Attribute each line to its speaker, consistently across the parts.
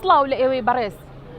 Speaker 1: سڵاو لە ئێوەی بەڕێز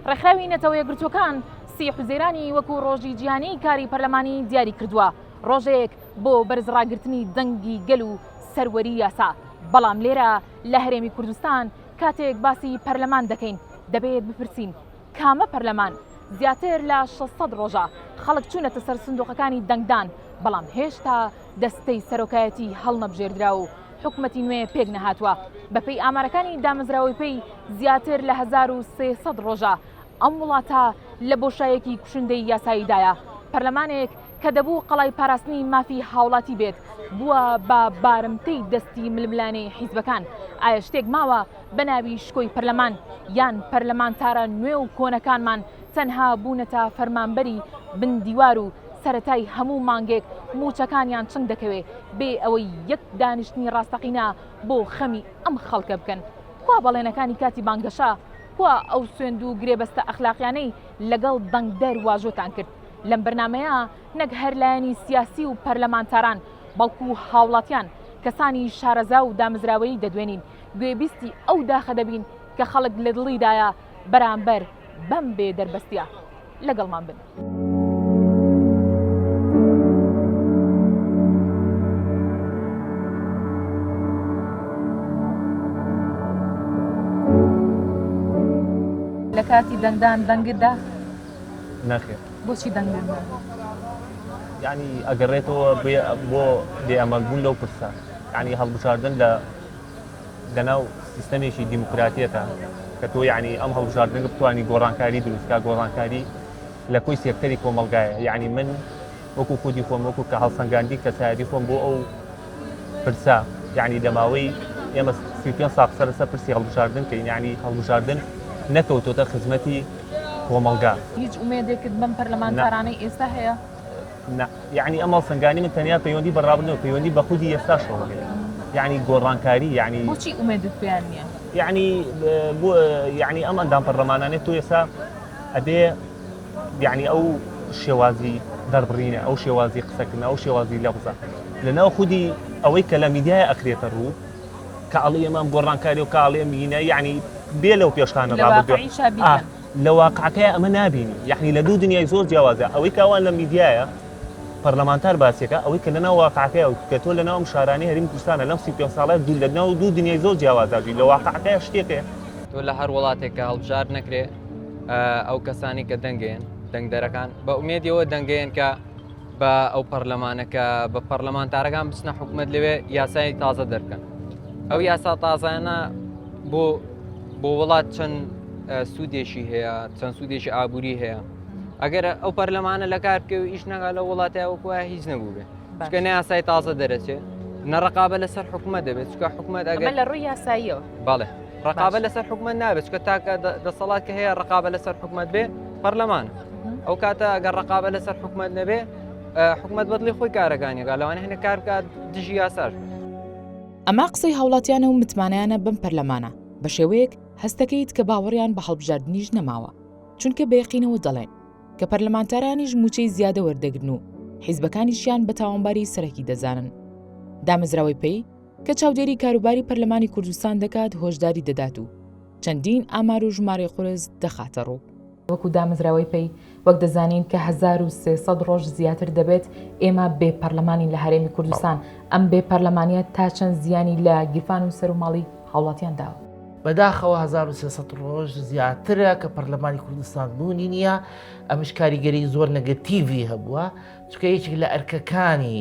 Speaker 1: ڕێکخراوی نەتەوە یەکگرتووەکان سی حوزێرانی وەکو ڕۆژی جیهانی کاری پەرلەمانی دیاری کردووە ڕۆژێک بۆ بەرزڕاگرتنی دەنگی گەل و سەروەری یاسا بەڵام لێرە لە هەرێمی کوردستان کاتێک باسی پەرلەمان دەکەین دەبێت بپرسین کامە پەرلەمان؟ زیاتر لە شەش سەد ڕۆژە خەڵک چوونەتە سەر سندووقەکانی دەنگدان، بەڵام هێشتا دەستەی سەرۆکایەتی هەڵنەبژێردرا و حکومەتی نوێ پێک نەهاتووە. بەپێی ئامارەکانی دامەزراوەی پەی، زیاتر لە هەزار و سێ سەد ڕۆژە ئەم وڵاتە لە بۆشایەکی کوشندەی یاساییدایە. پەرلەمانێک کە دەبوو قەڵای پاراستنی مافی هاوڵاتی بێت، بووە بە بارمتەی دەستی ململانێی حیزبەکان. ئایا شتێک ماوە بە ناوی شکۆی پەرلەمان یان پەرلەمانتارە نوێ و کۆنەکانمان تەنها بوونەتە فەرمانبەری بن دیوار و سەرەتای هەموو مانگێک مووچەکانیان چنگ دەکەوێ بێ ئەوەی یەک دانیشتنی ڕاستەقینە بۆ خەمی ئەم خەڵکە بکەن کوا بەڵێنەکانی کاتی بانگەشە کوا ئەو سوێند و گرێبەستە ئەخلاقیانەی لەگەڵ دەنگدەر واژۆتان کرد لەم بەرنمەیە نەک هەر لایەنی سیاسی و پەرلەمانتاران بەڵکو هاوڵاتیان کەسانی شارەزا و دامزراوەیی دەدوێنین گوێبیستی ئەو داخە دەبین کە خەڵک لە دڵیدایە بەرامبەر بەم بێ دەربەستیە لەگەڵمان بن. کاتی دەنگدان دەنگت دا
Speaker 2: نەخێ بۆچی دەنگدان ینی ئەگەڕێتەوە بۆ بێ ئەمەلبوون لەو پرسە یانی هەڵبژاردن لە لەناو سیستەمێکی دیموکراتیەتە کە تۆ یعنی ئەم هەڵبژاردنگە بتوانانی گۆڕانکاری دروستکە گۆڕانکاری لە کۆی سێکتەری کۆمەلگایە یعنی من وەکو خودی خۆم وەکو کە هەڵسەنگاندی کەسایەتی خۆم بۆ ئەو پرسە یعنی لە ماوەی ئێمە سی پێ ساق سەر لەسەر پرسی هەڵبژاردن کە یعنی هەڵبژاردن نەکەوتۆتە خزمەتی کۆمەلگا هیچ ئومێدێکت
Speaker 1: بەم پەرلەمانتارانەی ئێستا هەیە؟ نا یەعنی
Speaker 2: ئەم هەڵسەنگانی من تەنیا پەیوەندی بە ڕابردوو نیە پەیوەندی بە خودی ئێستاشەوە هەیە یەعنی گۆڕانکاری یەعنی بۆچی ئومێدت
Speaker 1: پێیان نییە
Speaker 2: یەعنی بۆ یەعنی ئەم ئەندام پەرلەمانانێ تۆ ئێستا ئەبێ یەعنی ئەو شێوازی دەربڕینە ئەو شێوازی قسەکردنە ئەو شێوازی لەفزە لەناو خودی ئەوەی کە لە میدیای ئەکرێتە ڕوو کە ئەڵێ ئێمە ئەم گۆڕانکاری و کاڵێ مینە یەعنی بێ لەو پێشخانە ڕابردووە لەواقعیشا بیکەن. لە واقعەکەیا ئەمە نابینی یعنی لە دوو دنیای زۆر جیاوازە ئەوەی کاوان لە میدیایە پەرلەمانتار باسیەکە ئەوەی کە لەناو واقعەکەی و کە تۆ لەناو شارانی هەریم کوردستانە لەم سی پێ ساڵە دوو لە ناو دوو دنیای زۆر جیاوازاژی لە واقعەکەی شتێکێ تۆ لە هەر
Speaker 3: وڵاتێکە هەڵبژار نەکرێ ئەو کەسانی کە دەنگێن دەنگدەرەکان بە ئومێدیەوە دەنگێن کە بە ئەو پەرلەمانە کە بە پەرلەمانتارەکان بچنە حکوومەت لەوێ یاسای تازە دەرکەن ئەو یاسا تازانە بۆ بۆ وڵات چەند سوودێکی هەیە چەند سوودێکی ئابووری هەیە ئەگەر ئەو پەرلەمانە لە کار بکە و ئیش نەگا لە وڵاتای وەکوە هیچ نەبوو بێ چکە ناسای تازە دەرەچێت نەڕقابە لەسەر حکوومەت دەبێت چکە حکوومەت ئەگەر لە ڕووی یاساییەوە
Speaker 1: بەڵێ ڕقابە
Speaker 3: لەسەر حکومت نابێت چکە تاکە دەسەڵات کە هەیە ڕقابە لەسەر حکومت بێ پەرلەمان ئەو کاتە ئەگەر ڕقابە لەسەر حکومت نەبێ حکومت بەدڵی خۆی کارەکانیگا لەوانە هەنە کار بکات دژی یاساش ئەما
Speaker 1: قسەی هاوڵاتیانە و متمانیانە بم پەرلەمانە بە شێوەیەک هەستەکەیت کە باوەڕیان بە هەڵبژاردنیش نەماوە چونکە بەیەقینەوە دەڵێن کە پەرلەمانتارانیش موچەی زیادە وەردەگرن و حیزبەکانیشیان بە تاوانباری سەرەکی دەزانن دامەزراوەی پێی کە چاودێری کاروباری پەرلەمانی کوردستان دەکات هۆشداری دەدات و چەندین ئامار و ژمارەی قورس دەخاتە ڕوو. وەکو دامەزراوەی پەی وەک دەزانین کە هەزار و سێ سەد ڕۆژ زیاتر دەبێت ئێمە بێ پەرلەمانین لە هەرێمی کوردستان، ئەم بێ پەرلەمانیە تا چەند زیانی لە گیرفان و سەر و ماڵی هاوڵاتیان داوە؟ بەداخەوە هەزار
Speaker 4: و سێ سەد ڕۆژ زیاترە کە پەرلەمانی کوردستان بوونی نییە، ئەمش کاریگەری زۆر نەگەتیڤی هەبووە، چونکە یەکێک لە ئەرکەکانی،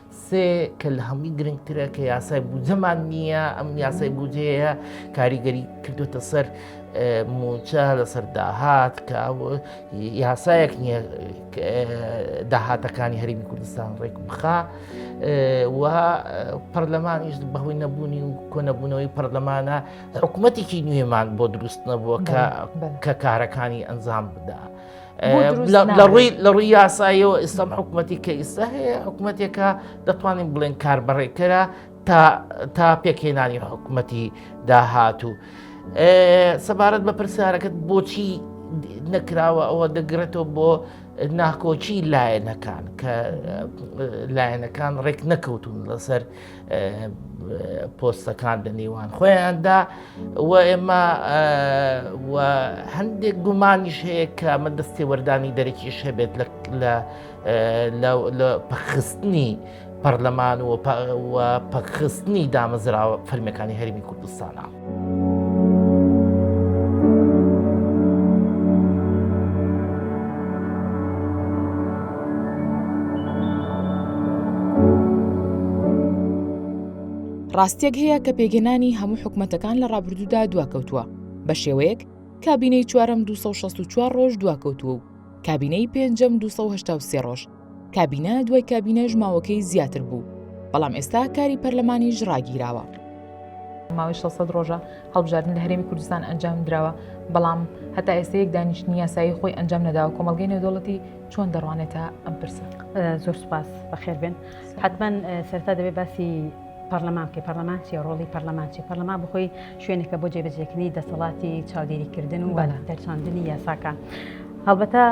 Speaker 4: سێ کە لە هەمووی گرنگترە کە یاسای بودجەمان نییە ئەم یاسای بودجەیە کاریگەری کردوتە سەر موچە لەسەر داهات کە یاسایەک نییە داهاتەکانی هەرمی کوردستان ڕێک بخا و پەرلەمانیش بەهۆی نەبوونی و کۆنەبوونەوەی پەرلەمانە حکوومەتێکی نوێمان بۆ دروست نەبووە کە کارەکانی ئەنجام بدا. لە ڕووی یاسایەوە ئێستام حکوومەتی کە ئیستا هەیە حکوومەتێکە دەتوانین بڵێن کاربڕێکەرە تا پێکهێنانی حکوومەتی داهاتوو. سەبارەت بە پرسیارەکەت بۆچی نەکراوە ئەوە دەگرێتەوە بۆ ناکۆچی لایەنەکان کە لایەنەکان ڕێک نەکەوتون لەسەر پۆستەکان لە نێوان خۆیاندا و ئێمە هەندێک گومانیش هەیە کە ئەمە دەستی وەردانی دەرەکیش هەبێت لە پخستنی پەرلەمان و پخستنی دامەزراوە فەرمیەکانی هەرمی کوردستانە.
Speaker 1: ڕاستیەک هەیە کە پێگەنانی هەموو حکومەتەکان لە ڕابردوودا دواکەوتووە بە شێوەیەک کابینەی چوارم 264 ڕۆژ دواکەوتووە و کابینەی پێنجەم 283 ڕۆژ کابینە دوای کابینەش ماوەکەی زیاتر بوو بەڵام ئێستا کاری پەرلەمانیش ڕاگیراوە. ماوەی 600 ڕۆژە هەڵبژاردن لە هەرێمی کوردستان ئەنجام دراوە بەڵام هەتا ئێستا یەک دانیشتنی یاسایی خۆی ئەنجام نەداوە کۆمەلگەی نێودەوڵەتی چۆن دەڕوانێتە ئەم پرسە زۆر سپاس
Speaker 5: بەخێربێن حتمما سەرتا دەبێت باسی پەرلەمان بکە پەرلەمان چی ڕۆڵی پەرلەمان چی پەرلەمان بخۆی شوێنێکە بۆ جێبەجێکننی دەسەڵاتی چاودێریکردن و دەرچاندنی یاساکان هەڵبەتە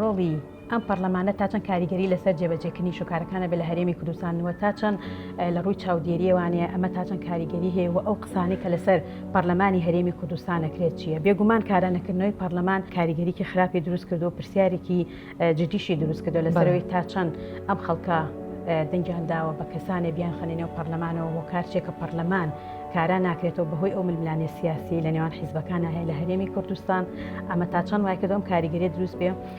Speaker 5: ڕۆڵی ئەم پەرلەمانە تا چەند کاریگەری لەسەر جێبەجێکردنی شوکارەکان ئەبێ لە هەرێمی کوردستان و تا چەند لە ڕووی چاودێریەوانەیە ئەمە تا چەند کاریگەری هەیە و ئەو قسانەی کە لەسەر پەرلەمانی هەرێمی کوردستان نەکرێت چییە بێگومان کارە نەکردنەوەی پەرلەمان کاریگەریکی خراپی دروست کردو پرسیارێکی جدیشی دروست کردو لەسەرەوەی تا چەند ئەم خەڵکە دەنگیان داوە بە کەسانێ بیان خەنێنێ و پەرلەمانەوە بۆ کارچێکە پەرلەمان کارا ناکرێتەوە بەهۆی ئەو ململانێ سیاسی لە نێوان حیزبەکان هەیە لە هەرێمی کوردستان ئەمە تا چەند وای کردم کاریگەری دروست بێ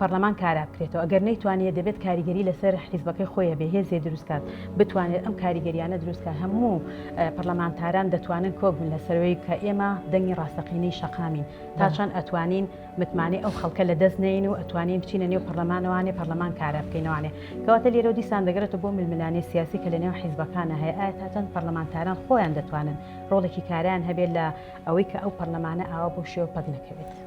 Speaker 5: پەڕلەمان کارا بکرێتەوە ئەگەر نەیتوانیە دەبێت کاریگەری لەسەر حیزبەکەی خۆیە بێ هێزێ دروستکات بتوانێت ئەم کاریگەریانە دروستکە هەموو پەرلەمانتاران دەتوانن کۆک بن لە سەروەی کە ئێمە دەنگی ڕاستەقینەی شەقامین تا چەند ئەتوانین متمانەی ئەو خەڵکە لە دەست نین و ئەتوانین بچینە نێو پەرلەمانەوانێ پەرلەمان کارە بکەینەوانێ کەواتە لێرە دیسان دەگەرێتە بۆ ململانێ سیاسی کە لە نێو حیزبەکانە هەیە ئایا تا چەند پەرلەمانتاران خۆیان دەتوانن ڕۆڵێکی کاریان هەبێت لە ئەوەی کە ئەو پەرلەمانە ئاوا بۆ شێوە پەک نەکەوێت.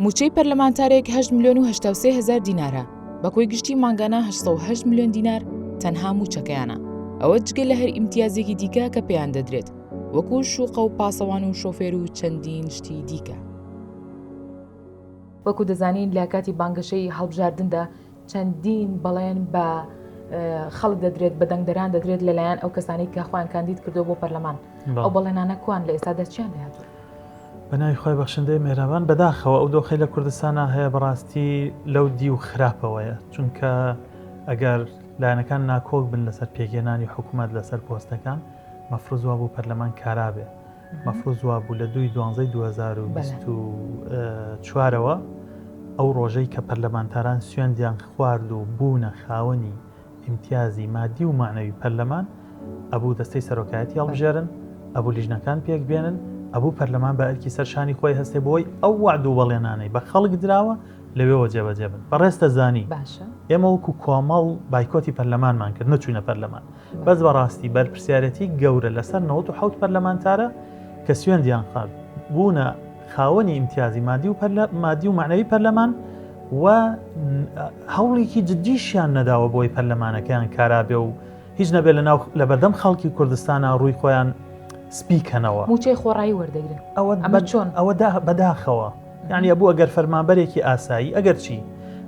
Speaker 1: مووچەی پەرلەمانتارێک هەشت ملیۆن و هەشتا و سێ هەزار دینارە، بە کۆی گشتی مانگانە هەشت سەد و هەشت ملیۆن دینار تەنها مووچەکەیانە، ئەوە جگە لە هەر ئیمتیازێکی دیکە کە پێیان دەدرێت، وەکو شوقە و پاسەوان و شۆفێر و چەندین شتی دیکە. وەکو دەزانین لە کاتی بانگەشەی هەڵبژاردندا چەندین بەڵێن بە خەڵک دەدرێت بە دەنگدەران دەدرێت لەلایەن ئەو کەسانی کە خوان کاندید کردو بۆ پەرلەمان ئەو بەڵێنانە کوان لە ئێستا دەچیان لە هاتوو بەناوی خۆی
Speaker 2: بەخشندەی مێرابان بەداخەوە ئەو دۆخی لە کوردستانە هەیە بەڕاستی لەو دی و خراپەوەیە چونکە ئەگەر لایەنەکان ناکۆک بن لەسەر پێگەێنانی حکوومەت لەسەر پۆستەکان مەفرزوا بۆ پەرلەمان کارابێ مەفروز وابوو لە دووی دوانزەی دوو هەزار و بیست و چوارەوە ئەو ڕۆژەی کە پەرلەمانتاران سوێندیان خوارد و بوونە خاوەنی ئیمتیازی مادی و معنەوی پەرلەمان ئەبوو دەستەی سەرۆکایەتی هەڵبژێرن ئەبوو لیژنەکان پێک بێنن ئەبوو پەرلەمان بە ئەرکی سەر شانی خۆی هەستێ بۆی ئەو وعد و بەڵێنانەی بە خەڵک دراوە لەوێەوە جێبەجێ بن بەڕێز دەزانی باشە ئێمە وەکو کۆمەڵ بایکۆتی پەرلەمانمان کرد نەچوینە پەرلەمان بەس بەڕاستی بەرپرسیارەتی گەورە لەسەر نەوەد و حەوت پەرلەمانتارە کە سوێندیان خارد بوونە خاوەنی ئیمتیازی مادی و پەرلە مادی و معنەوی پەرلەمان و هەوڵێکی جددیشیان نەداوە بۆی پەرلەمانەکەیان کارابێ و هیچ نەبێت لە ناو لە بەردەم خەڵکی کوردستانە ڕووی خۆیان سپیکەنەوە موچەی خۆڕایی
Speaker 1: وەردەگرن ئەوە ئەمە چۆن ئەوە
Speaker 2: بەداخەوە یانی ئەبوو ئەگەر فەرمانبەرێکی ئاسایی ئەگەرچی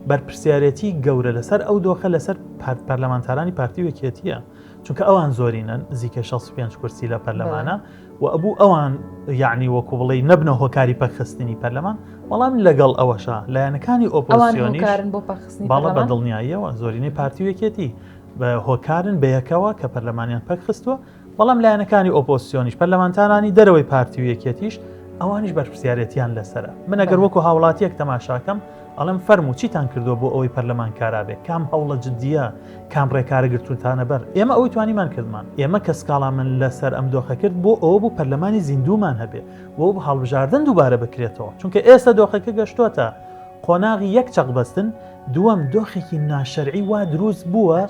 Speaker 2: بەرپرسیارێتی گەورە لەسەر ئەو دۆخە لەسەر پارت پەرلەمانتارانی پارتی وەکێتیە چونکە ئەوان زۆرینەن زیکە 65 کورسی لە پەرلەمانە و ئەبوو ئەوان یعنی وەکو بڵی نەبنە هۆکاری پەخستنی پەرلەمان بەڵام لەگەڵ ئەوەشە لایەنەکانی ئۆپۆسیۆنی باڵە بە دڵنیاییەوە زۆرینەی پارتی وەکێتی بە هۆکارن بەیەکەوە کە پەرلەمانیان پەکخستووە بەڵام
Speaker 6: لایەنەکانی ئۆپۆزسیۆنیش، پەرلەمانتارانی دەرەوەی پارتی و یەکێتیش، ئەوانیش بەرپرسیارێتییان لەسەرە. من ئەگەر وەکو هاوڵاتییەک تەماشاکەم، ئەڵێم فەرموو چیتان کردووە بۆ ئەوەی پەرلەمان کارا بێت؟ کام هەوڵە جدییە؟ کام ڕێکارە گرتوونتانە بەر؟ ئێمە ئەوەی توانیمان کردمان. ئێمە کە سکاڵامان لەسەر ئەم دۆخە کرد، بۆ ئەوە بوو پەرلەمانی زیندوومان هەبێت و هەڵبژاردن دووبارە بکرێتەوە. چونکە ئێستا دۆخەکە گەشتۆتە قۆناغی یەک چەقبەستن، دووەم دۆخێکی ناشەرعی وا دروست بووە،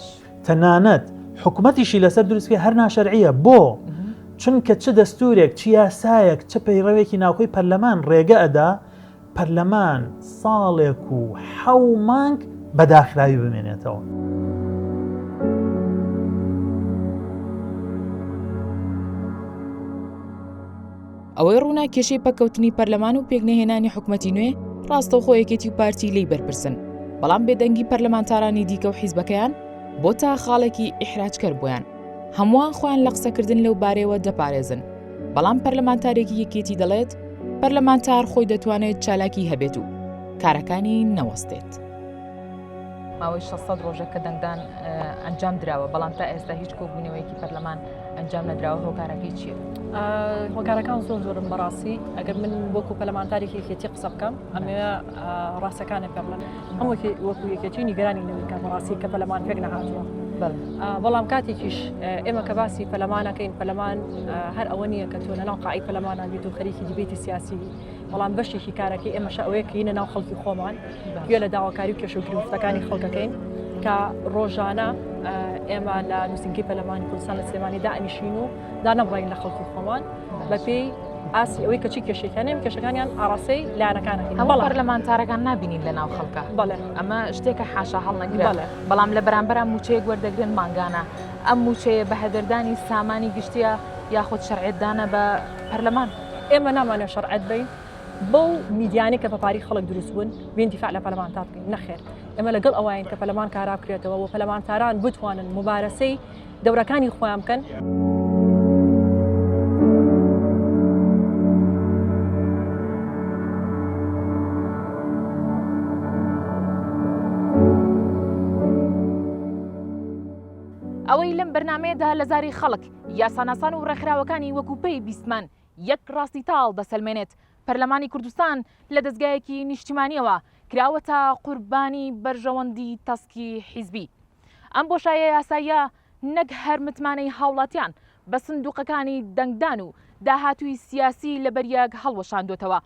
Speaker 6: تەنانەت حکومەتیشی لەسەر دروستکە هەر ناشەرعە بۆ چونکە چ دەستورێک چ یاسایەک چ پەیڕەوێکی ناوخۆی پەرلەمان ڕێگە ئەدا پەرلەمان ساڵێک و حەو مانگ بەداخراوی بمێنێتەوە.
Speaker 7: ئەوەی ڕوونە کێشەی پەککەوتنی پەرلەمان و پێکنەهێنانی حکومەتی نوێ ڕاستەوخۆ یەکێتی و پارتی لی بەرپرسن بەڵام بێدەنگی پەرلەمانتارانی دیکە و حیزبەکەیان بۆ تا خاڵێکی ئیحراجکەر بوویان هەمووان خۆیان لە قسەکردن لەو بارەیەوە دەپارێزن بەڵام پەرلەمانتارێکی یەکێتی دەڵێت پەرلەمانتار خۆی دەتوانێت چالاکی هەبێت و کارەکانی نەوەستێت.
Speaker 1: ماوەی شەش سەد ڕۆژە کە دەنگدان ئەنجام دراوە بەڵام تا ئێستا هیچ کۆبوونەوەیەکی پەرلەمان ئەنجام نەدراوە هۆکارەکەی چییە؟ هۆکارەکان
Speaker 8: زۆر زۆرم بەڕاستی ئەگەر من وەکو پەلمانتارێکی یەکێتی قسە بکەم ئەمێ ڕاستەکانە پێ بڵێن هەمووکی وەکو یەکێتی نیگەرانی نەویکە بەڕاستی کە پەلەمان پێک نەهاتووە بەڵام کاتێکیش ئێمە کە باسی پەلەمانەکەین پەلەمان هەر ئەوە نییە کە تۆ لەناو قاعی پەلەمانان بیت و خەریکی دیبێتی سیاسی بەڵام بەشێکی کارەکەی ئێمەش ئەوەیە کە هینە ناو خەڵکی خۆمان گوێ لە داواکاری و کێشە و گرفتەکانی خەڵکەکەین کە ڕۆژانە ئێمە لە نووسنگی پەلەمانی کوردستان لە سلێمانی دانیشین و دانەبڕین لە خەڵکی خۆمان بەپێی ئاسی ئەوەی کەچی کێشەکانیان کێشەکانیان ئاراسی لایەنەکانەکە هەمە پەرلەمانتارەکان
Speaker 1: نبینین لە ناو خەڵکە بەڵێ ئەمە شتێکە
Speaker 8: حاشا
Speaker 1: هەڵنەگرە بەڵام لە بەرامبەر موچەیەک وەردەگرن مانگانە ئەم موچەیە بە هەدەردانی سامانی گشتیە یاخود شەرعێتدانە بە پەرلەمان. ئێمە نامانە
Speaker 8: شەرعەت بین بەو میدیانەی کە بەپاری خەڵک دروست بوون بین دیفاع لە پەلمانتار بکەین نەخێر ئێمە لەگەڵ ئەوین کە پەلمان کارا بکرێتەوە و پەلمانتاران بتوانن مبارەسەی دەورەکانی خۆیان بکەن.
Speaker 1: ئەوەی لەم بەرنمەیەدا لە زاری خەڵک یاساناسان و ڕێکخراوەکانی وەکو پێی بیستمان یەک ڕاستی تاڵ دەسەلمێنێت، پەرلەمانی کوردستان لە دەزگایەکی نیشتیمانیەوە کراوەتە قوربانی بەرژەوەندی تەسکی حیزبی. ئەم بۆشایە یاساییە نەک هەر متمانەی هاوڵاتیان بە سندوقەکانی دەنگدان و داهاتووی سیاسی لەبەریەک هەڵوەشاندۆتەوە،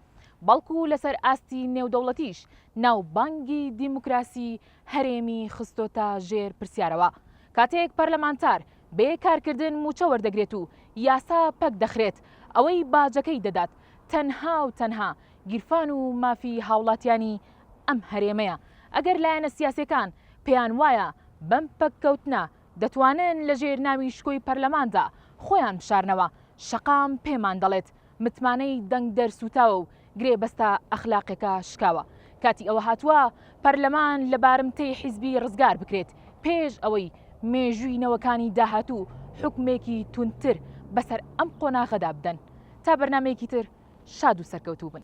Speaker 1: بەڵکو لەسەر ئاستی نێودەوڵەتیش ناوبانگی دیموکراسی هەرێمی خستۆتە ژێر پرسیارەوە، کاتێک پەرلەمانتار بێ کارکردن مووچە وەردەگرێت و یاسا پەک دەخرێت، ئەوەی باجەکەی دەدات تەنها و تەنها گیرفان و مافی هاوڵاتیانی ئەم هەرێمەیە، ئەگەر لایەنە سیاسیەکان پێیان وایە بەم پەککەوتنە دەتوانن لەژێر ناوی شکۆی پەرلەماندا خۆیان بشارنەوە، شەقام پێمان دەڵێت متمانەی دەنگدەر سووتاوە و گرێبەستە ئەخلاقیەکە شکاوە. کاتی ئەوە هاتووە پەرلەمان لە بارمتەی حیزبی ڕزگار بکرێت پێش ئەوەی مێژووی نەوەکانی داهاتوو حوکمێکی توندتر بەسەر ئەم قۆناغەدا بدەن. تا بەرنامەیەکی تر شاد و سەرکەوتوو بن.